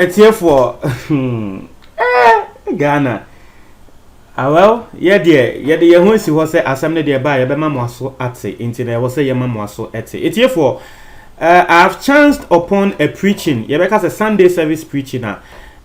atiefoɔ eh, ghana ah, well yɛ deɛ yɛde yɛn ho asi hɔ sɛ asɛm no deɛ ɛbaa yɛbɛma mo aso ate nti na ɛwɔ sɛ yɛma mo aso ɛte atiefoɔ uh, eh, i have chanced upon a preaching yɛbɛka sɛ sunday service preaching a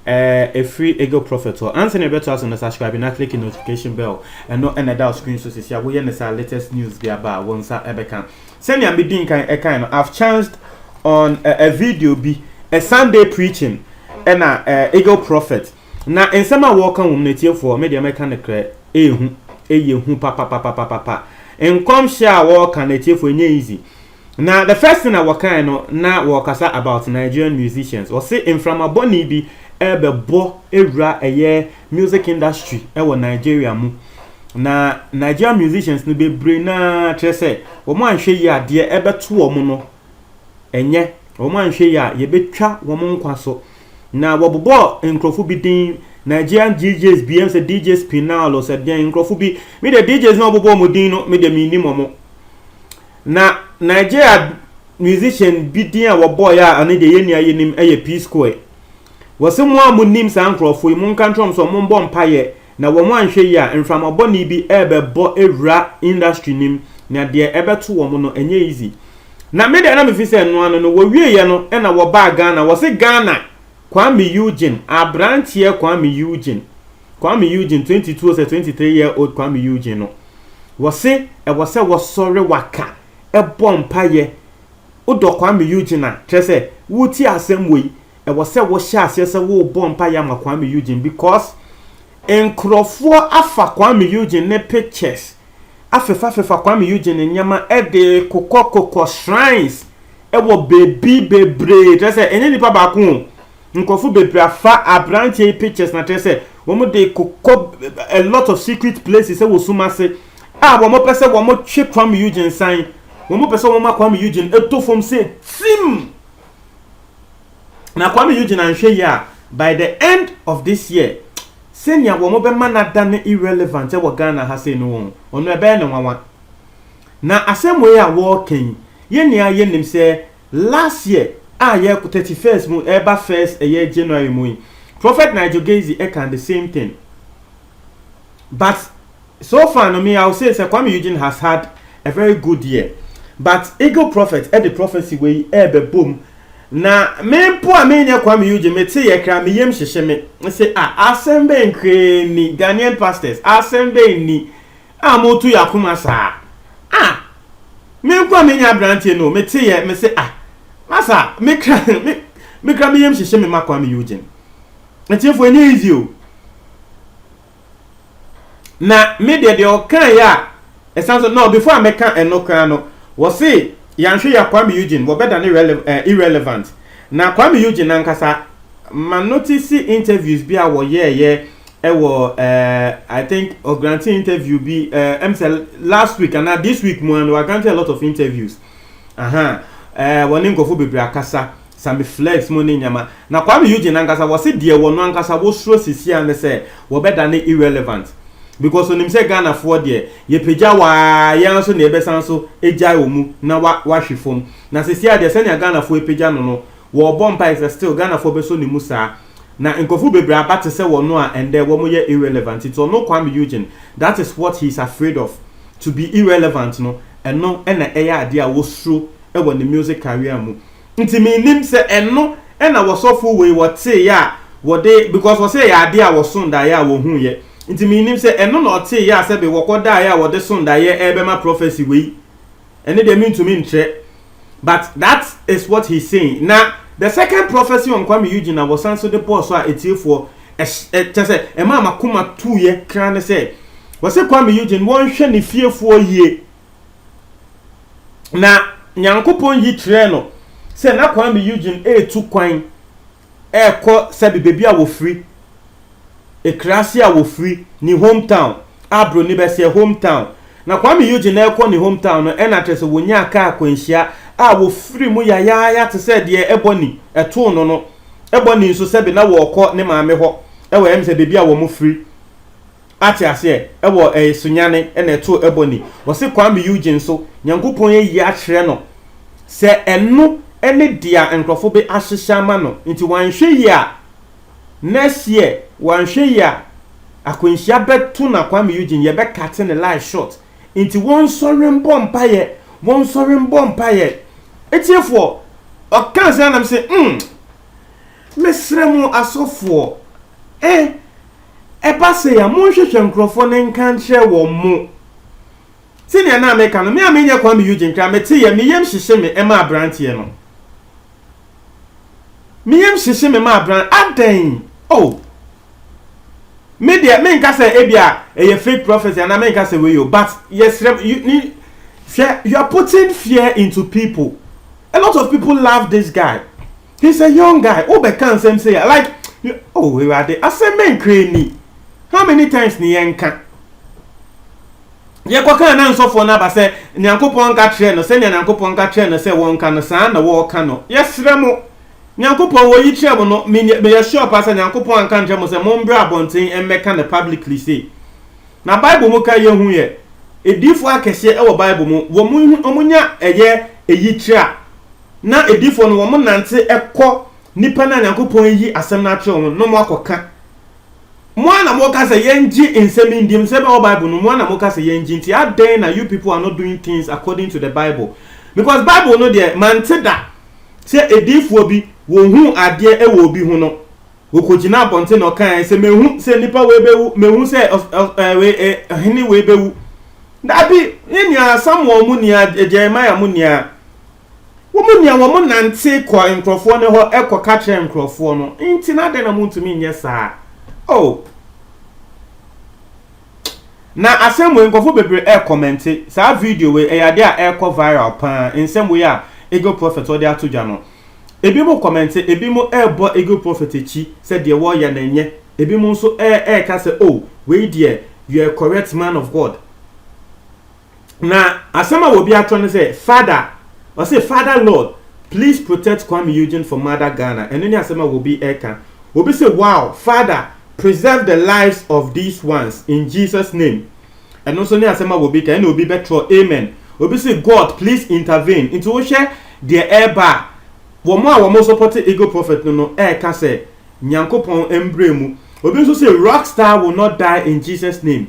Eh ɛfiri Eagle Prophet hɔ. Ansa na yɛbɛtoa so no subscribe na click notification bell ɛno na ɛda wo screen so sisi a woyɛ no saa latest news bi aba a wo nsa ɛbɛka. Sɛnea medi nkan ɛkae no I've chanced on a, a video bi a Sunday preaching ɛna uh, Eagle Prophet na nsɛm a wɔka wɔm no atiefoɔ me deɛ mɛka no korɛ ɛyɛ hu ɛyɛ hu papapapapapa nkɔmhyɛ a wɔka no atiefoɔ ɛnyɛ easy Na the first thing a wɔkae no na wɔrekasa about Nigerian musicians. Wɔse mframa bɔne bi rebɛbɔ awura ɛyɛ music industry wɔ Nigeria mu. Na Nigerian musicians no bebree na kyerɛ sɛ wɔn anhwɛ yi a deɛ ɛbɛto wɔn no ɛnyɛ wɔn anhwɛ yi a yɛbɛtwa wɔn nkwa so. Na wɔbobɔ nkurɔfo bi din Nigerian DJs bi ɛm sɛ DJ Spinal sɛ deɛn nkurɔfo bi me deɛ DJs na wɔbobɔ wɔn din no me deɛ mennim wɔn. Na Nigeria musician bi din a wɔbɔɔeɛ a ɛno deɛ yɛn nua yi nim yɛ P Square. Wɔse mo a monim saa nkurɔfoɔ yi, monka nkyerɛ wɔn sɛ wɔmmɔ mpaeɛ na wɔn anhwɛ yie a mframa bɔne bi rebɛbɔ awura industry no mu na deɛ ɛbɛto wɔn no ɛnyɛ easy. Na me deɛ na mefi sɛ ɛno ano no, wɔwieeɛ no na wɔbaa Ghana, wɔse Ghana Kwame Eugene, aberanteɛ Kwame Eugene. Kwame Eugene twenty two sɛ twenty three year old Kwame Eugene no wɔse ɛwɔ sɛ wɔsɔre waka ɛbɔ mpaeɛ wodɔ Kwame Eugene a kyerɛ sɛ wotie asɛm wɔ yi ɛwɔ sɛ wɔhyɛ aseɛ sɛ wobɔ mpaeɛ ama Kwame Eugene because nkurɔfoɔ afa Kwame Eugene ne pictures afefafefa Kwame Eugene ne nneɛma ɛde kokɔ kokɔ shrines ɛwɔ baabi bebree kyerɛ sɛ ɛnyɛ nipa baako Nkurɔfo bebree afa aberanteɛ yi pictures na kyerɛ sɛ wɔn de kɔ a lot of secret places wɔ sum ase a wɔn pɛ sɛ wɔn twe Kwame Eugene san wɔn pɛ sɛ wɔn ma Kwame Eugene eto fam sɛ tim na Kwame Eugene anhwɛ yie a by the end of this year sɛnea wɔn bɛma no ada ne irrelevant wɔ Ghana ha sɛ no wɔn ɔno ɛbɛyɛ ne nwanwa na asɛm wei a wɔreka yi yɛn nyinaa yɛnim sɛ Last year a yɛkɔ thirty first mu ɛba first ɛyɛ January mu yi prophet Nigel Gaisie ɛka the same thing but so far no me I will say sɛ Kwame Eugene has had a very good year but Eagle Prophet ɛde prophecy wei ɛɛbɛbom na me mpo a me nyɛ Kwame Eugene me te yɛ kra me yam hyehye me se ah asɛm bɛn kraa ni Ghanaian pastors asɛm bɛn ni a motu yɛ akoma saa ah me nko a me nyɛ abranteɛ no me te yɛ me se ah masa me kra me me kra me yam hyehye me ma Kwame Eugene atiefo ɛnyɛ easy o na me deɛ deɛ ɔkan yɛ a ɛsan so no before a mɛka ɛno kra no wɔ se yɛanhwɛ yɛ Kwame Eugene wɔbɛda ne relevant eh, irrelevant na Kwame Eugene ankasa ma notice interviews bi a wɔyɛɛyɛ Ɛwɔ eh, I think ɔ grante interview bi eh, ɛm sɛ last week anaa this week mu a no wa grante a lot of interviews aha eh, wɔne nkɔfo bebree akasa sami flex mu ne nyama na Kwame Eugene ankasa wɔse deɛ wɔ no ankasa wosoro sisi a ne sɛ wɔbɛda ne irrelevant because onim sɛ Ghana foɔ deɛ yɛpagya waa yɛn nso na yɛbɛsan so agyae wɔ mu na wa wahwe fam na sisi a deɛ sɛnea Ghana foɔ apagya no no wɔɔbɔ mpae sɛ still Ghana foɔ bɛsɔ ne mu saa Na nkorɔfo bebree aba te sɛ wɔno a ndɛ wɔmo yɛ irrelevant ntsi ɔno Kwame Eugene that is what he's afraid of to be irrelevant no ɛno na ɛyɛ adeɛ a wɔsuro wɔ ne music career mu ntsi mennim sɛ ɛno na wɔsɔfo wei wɔteeyɛ a wɔde because wɔsɛ ɛyɛ adeɛ a wɔson daeɛ a wɔhuuyɛ ntsi mennim sɛ ɛno na ɔteeyɛ a sɛbe wɔkɔ daeɛ a wɔde son daeɛ ɛɛbɛma prophecy wei Ɛno deɛ mentumi nkyerɛ but that is what he's saying. Na the second prophecy on Kwame Eugene a wɔsan so de bɔɔ so a atiefoɔ ɛhy kyɛ sɛ ɛmaa m'akoma tuiɛ kra ne sɛ wɔse Kwame Eugene wɔnhwɛ ne fiefoɔ yie na Nyankopɔn yi kyerɛɛ no sɛ na Kwame Eugene retu kwan ɛrekɔ sɛbi baabi a wɔfiri, ekuraase a wɔfiri, ne home town a broni bɛseɛ home town. Na Kwame Eugene ɛrekɔ ne home town no ɛna kyerɛ sɛ wɔnyaa kaa akwanhyia a wɔfiri mu yayaaya te sɛ deɛ ɛbɔne ɛtoo no no. Ɛbɔne nso sɛbi na wɔrekɔ ne maame hɔ wɔ ɛyɛ me sɛ baabi a wɔfiri. Ate aseɛ ɛwɔ ɛɛ sunyane ɛna ɛto ɛbɔne wɔse kwame Eugene nso nyankopɔn ayi akyerɛ no sɛ ɛno ɛne dea nkorɔfo be ahyehyɛ ama no nti wanhwɛ yie a next year wanhwɛ yie a akwanhyia bɛto na kwame Eugene yɛbɛ cate ne life short nti wɔnsɔre mbɔ mpaeɛ wɔnsɔre mbɔ mpaeɛ atiefoɔ ɔkaa saa na mese umm. Mesrɛ mo asɔfoɔ, eh, ɛba sei a, monhwehwɛ nkurɔfoɔ no nka nkyerɛ wɔn mo. Sɛnea na meka no, me a menyɛ Kwame Eugene koraa, meteeɛ, me yam hyehye me ma aberanteɛ no. Me yam hyehye me ma abran, adɛn? Oh! Me deɛ, menka sɛ ebia ɛyɛ fake prophecy anaa menka sɛ wei o, but yɛsrɛ mo, you, ni, hwɛ, you are putting fear into people. A lot of people love this guy. He's a young guy wo bɛ ka nsɛm sei a like oh awurade asɛm bɛ nkra ni how many times ni yɛn ka yɛ kɔ kan na nsɔfoɔ no aba sɛ nyankopɔn nka kyerɛ no sɛnea nyankopɔn nka kyerɛ no sɛ wɔn ka no saa na wɔɔka no yɛ srɛ mo nyankopɔn wɔ yi kyerɛ mo no me yɛ sure pa sɛ nyankopɔn anka nkyerɛ mo sɛ mo mbrɛ abɔnten mmɛ ka no publicly sei na bible mu ka yɛ hu yɛ ediifoɔ akɛseɛ ɛwɔ bible mu wɔn wɔn nya ɛyɛ eyi kyerɛ a na adiyifoɔ no wɔnante kɔ nnipa no a Nyankopɔn ayi asɛm no akyerɛ wɔn no na wɔakɔka. Mo ara na moka sɛ, 'Yɛngye nsɛm yi ndim, sɛ ɛbɛyɛ wɔ Bible no mu. Mo ara na moka sɛ, 'Yɛngye, nti adɛn na you people are not doing things according to the Bible? Because Bible no deɛ, mante da sɛ adiyifoɔ bi wɔhuu adeɛ wɔ obi ho no, Okogyinaa abɔnten na ɔkae sɛ, Mahu sɛ nnipa wei bɛwu, mahu sɛ ɔhene wei bɛwu. Dabi, yɛ nea Samuel mu nua, Jeremiah mu nua, wɔn mu nua wɔn nante kɔ nkurɔfoɔ no hɔ kɔ ka kyerɛ nkurɔfoɔ no, nti na adɛn na montumi nyɛ saa? Oh! Na asɛm wei nkurɔfo bebree ɛɛkɔmɛnte saa video wei ɛyɛ adeɛ a ɛɛkɔ viral paa nsɛm wei a Eagle Prophet ɔde ato dwa no ebinom kɔmɛnte ebinom ɛɛbɔ Eagle Prophet akyi sɛ deɛ wɔɔyɛ no ɛnyɛ ebinom nso ɛɛka sɛ oh wei deɛ you're a correct man of God Na asɛm a obi atɔ no sɛ Fada, ɔse Fada Lord please protect Kwame Eugene for Mother Ghana, ɛno ne asɛm a obi ɛka. Obi se wow Fada preserve the lives of these ones in Jesus name, ɛno nso ne asɛm a obi ka, ɛna obi bɛtrɔ amen. Obi se God please intervene, nti wohwɛ deɛ ɛreba a, wɔn a wɔn sɔpɔte Eagle Prophet no no ɛreka sɛ Nyankopɔn mbrɛ mu. Obi nso se Rockstar will not die in Jesus name.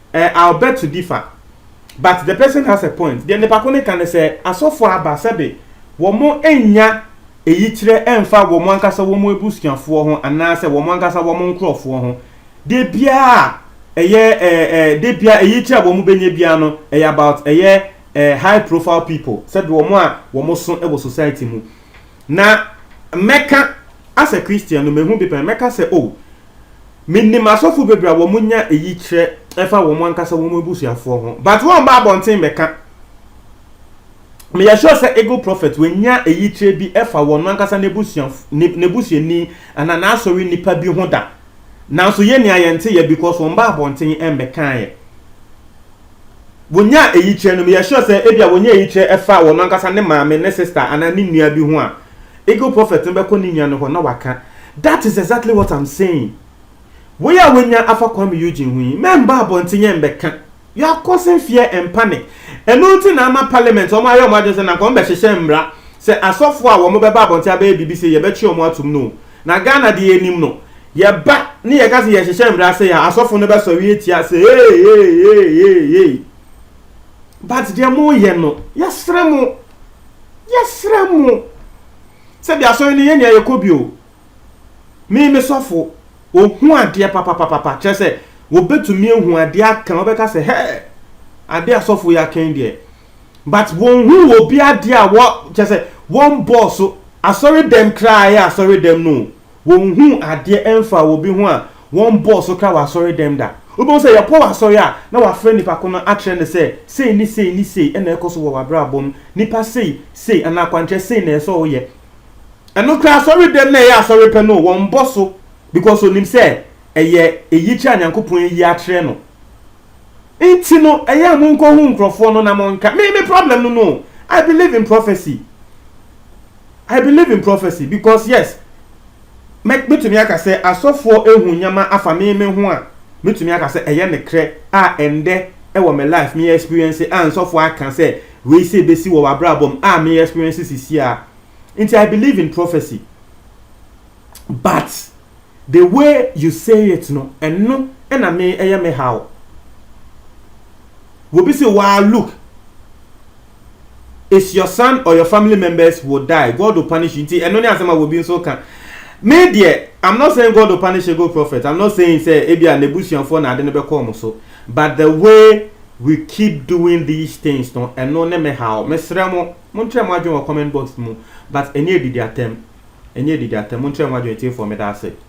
Eh I'll beg to differ but the person has a point, deɛ nipako no ka ne sɛ asɔfoɔ aba sɛbe wɔn nnya eyikyerɛ ɛnfa wɔn ankasa wɔn abusuafoɔ ho anaasɛ wɔn ankasa wɔn nkorɔfoɔ ho, deɛ biara a ɛyɛ eh eh deɛ biara eyikyerɛ a wɔn bɛnya biara no ɛyɛ about ɛyɛ eh high profile people sɛbe wɔn a wɔn so wɔ society mu na mɛka as a Christian no mehu bi pɛn mɛka sɛ oh Menim asɔfo bebree a wɔnya eyi kyerɛ fa wɔn ankasa wɔn abusuafoɔ ho, but wɔmma abɔnten mmɛka. Meyɛ sure sɛ Eagle Prophet wannya eyi kyerɛ bi fa wɔn ankasa n'abusua, n'abusuani anaa n'asɔre nnipa bi ho da. Nanso yɛn nea yɛnteeɛ because wɔmma abɔnten mmɛkaeɛ. Wɔnyaa eyi kyerɛ no, meyɛ sure sɛ ebia wɔnya eyi kyerɛ fa wɔn ankasa ne maame, ne sister anaa ne nua bi ho a, Eagle Prophet no bɛkɔ ne nua no hɔ na waka, That is exactly what I'm saying. Wei a wanya afa Kwame Eugene ho yi, mɛmba abɔnten yɛ mbɛka. You are causing fear and panic. Ɛno nti na ama Parliament wɔn ayɛ wɔn adwene sɛ na nka wɔn bɛhyehyɛ mmra sɛ asɔfo a wɔn bɛba abɔnten abɛyɛ biribi sei yɛbɛtwe wɔn atom no o. Na Ghana deɛ yɛnim no, yɛba ne yɛka sɛ yɛhyehyɛ mmra sei a, asɔfo no bɛsɔre atia sɛ hey, hey, hey, hey, hey. But deɛ moreyɛ no, yɛsrɛ mo. Yɛsrɛ mo sɛ bi asɔre no yɛ nea yɛkɔ bi o. Me me sɔfo, ohu adeɛ papapapapa kyerɛ sɛ wɔbɛtumi ahu adeɛ aka wɔbɛka sɛ hɛɛ adeɛ asɔfo yi aka yi deɛ but wɔnhu wɔ bi adeɛ a wɔ kyerɛ sɛ wɔn bɔɔ so asɔre dɛm koraa yɛ asɔre dɛm no o. Wɔnhuu adeɛ ɛmfaa obi ho a wɔnbɔɔ so kra wɔ asɔre dɛm da. Wobɛhu sɛ yɛkɔ wɔ asɔre a na wafrɛ nnipa ko no akyerɛ no sɛ sei ne sei ne sei na ɛrekɔ so wɔ w'abrabɔ mu, nnipa sei, sei anaa akwankyerɛ sei na ɛsɛ sɛ woyɛ. Ɛno koraa asɔre dɛm na ɛyɛ asɔre pɛ no o, wɔnbɔ so because ɔnim sɛ ɛyɛ ɛyikyerɛ a Nyankopɔn ayi akyerɛ no. Nti no ɛyɛ a monkɔhu nkorɔfoɔ no na monka. Me me problem no no o, I believe in prophecy. I believe in prophecy because yes mɛ mɛtumi aka sɛ asɔfoɔ ehu nneɛma afa me me ho a mɛtumi aka sɛ ɛyɛ ne krɛ a ɛndɛ ɛwɔ me life me experience a nsɔfoɔ aka sɛ wei sɛ ebesi wɔ w'abrabɔ mu a me experience sisi a nti I believe in prophecy But the way you say it no ɛno na me ɛyɛ me haw. Wobi se waa look is your son or your family members will die God will punish you nti ɛno ne asɛm a wobi nso ka. Me deɛ I'm not saying God will punish ego prophet I'm not saying sɛ ebi a n'abusuafoɔ na ade no bɛkɔ wɔn so but the way we keep doing these things no ɛno ne me haw. Mesrɛ mo. Monkyerɛ mo adwene wɔ comment box mu but ɛnyɛ adidi atɛm ɛnyɛ adidi atɛm monkyerɛ mo adwene tiefoɔ meda ase.